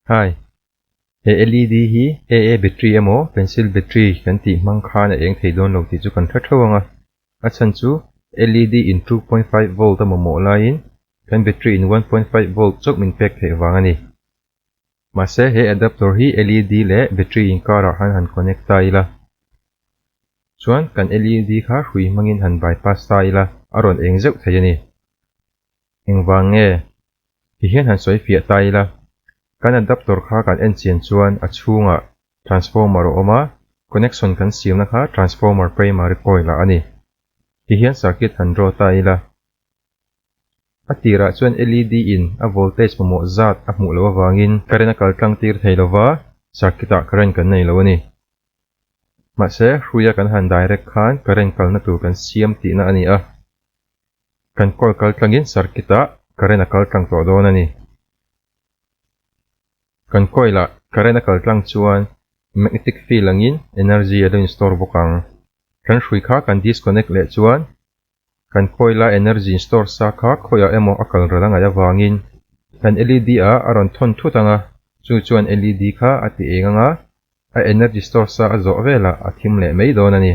Hi, he LED hi AA battery emaw pencil battery kan tih hmang khan a eng thei dawn lo tih chu kan hre theuh ang a, a chhan chu LED in two point five volt a mamawh laiin kan battery in one point five volt chauh min pek theih vang a ni. Mahse he adaptor hi LED leh battery inkarah han han connect ta ila chuan kan LED kha hrui hmangin han bypass ta ila a rawn eng zeuh thei a ni. Engvang nge? Ti hian han sawi fiah ta ila, kan adaptor kha kan en chian chuan a chhungah transformer a awm a, connection kan siamna kha transformer primary coil ah a ni. Ti hian circuit han draw ta ila, a tirah chuan LED in a voltage mamawh zat a hmuh loh avangin current a kal tlang tir thei lova circuit ah current kan nei loh a ni. Mahse, hruia kan han direct khan current kalna tur kan siam tihna a ni a. Kan call kal tlangin circuit ah current a kal tlang tawh dawn a ni. Kan coil ah current a kal tlang chuan magnetic field angin energy a lo in store bawk ang. Kan hrui kha kan disconnect leh chuan kan coil a energy in store sa kha khawi ah emaw a kal ral a ngaih avangin kan led ah a rawn thawn thut ang a, chu chuan led kha a ti eng ang a, a energy store sa a zawh velah a thim leh mai dawn a ni.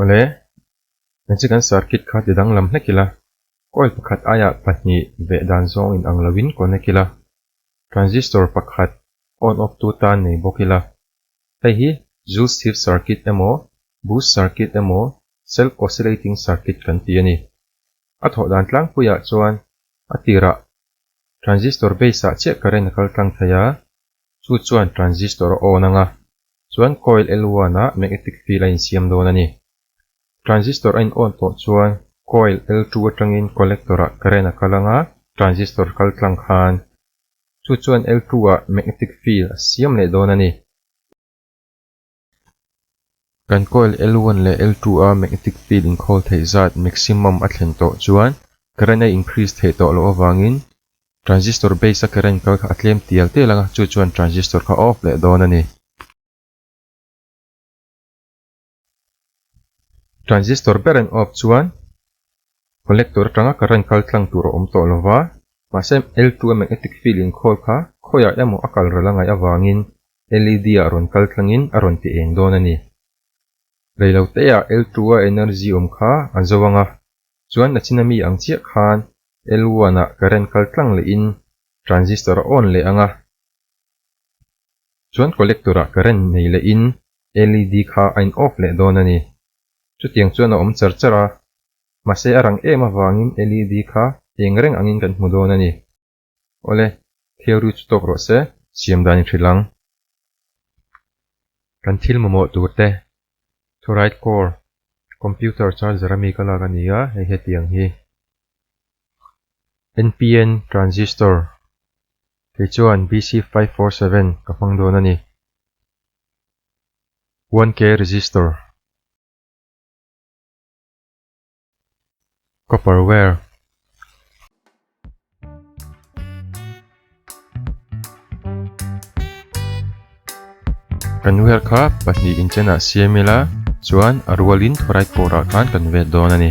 Awle, kan chi kan circuit kha ti danglam hlek ila, coil pakhat aia pahnih veh dan zawng in ang lo in connect ila, transistor pakhat on off tu tan nei bawk ila, hei hi Joule's Thief circuit emaw, Boost circuit emaw, self oscillating circuit kan ti a ni. A thawh dan tlangpuiah chuan a tirah transistor base ah chiah current a kal tlang thei a, chu chuan transistor a on ang a, chuan coil L one ah magnetic field a insiam dawn a ni. Transistor a in on tawh chuan coil L two atangin collector ah current a kal ang a, transistor kal tlang khan chu chuan L two ah magnetic field a siam leh dawn a ni. Kan coil L one leh L two a magnetic field inkhawl theih zat maximum a thlen tawh chuan current a increase theih tawh loh avangin transistor base a current kal kha a tlem tial tial ang a, chu chuan transistor kha off leh dawn a ni. Transistor ber an off chuan collector atanga current kal tlang tur a awm tawh lo va, mahse L two a magnetic field inkhawl kha khawiah emaw a kalrel a ngaih avangin LED-a a rawn kal tlangin a rawn ti eng dawn a ni. Reilo teiah L two a energy awm kha a zo ang a, chuan a china mi ang chiah khan L one ah current kal tlang lehin transistor a on leh ang a, chuan collector ah current nei lehin LED kha a in off leh dawn a ni. Chutiang chuan a awm char char a, mahse a rang em avangin LED kha eng reng angin kan hmu dawn a ni. Awle, thilru chu tawk rawh se. Siam dan in hrilh ang. Kan thil mamawh tur te. Fluoride core, computer charger a mi ka lak a ni a, hei hetiang hi. NPN transistor, kei chuan BC five four seven ka hmang dawn a ni. One K resistor. copper wire kan wire kha pahnih inchena siam ila chuan a rualin thurai pawrah khan kan vet dawn a ni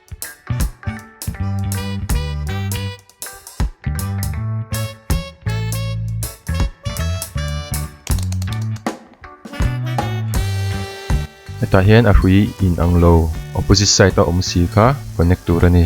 hetah hian a hrui in ang lo opposite side a awm si kha connect tur a ni.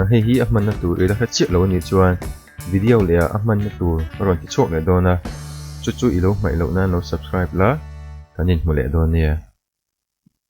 A hei hi a hmanna tur ila hre chiah lo anih chuan video leh ah a hmanna tur ka rawn ti chhuak leh dawn a, chu chu i lo hmaih loh nan lo subscribe la kan inhmu leh dawn nia.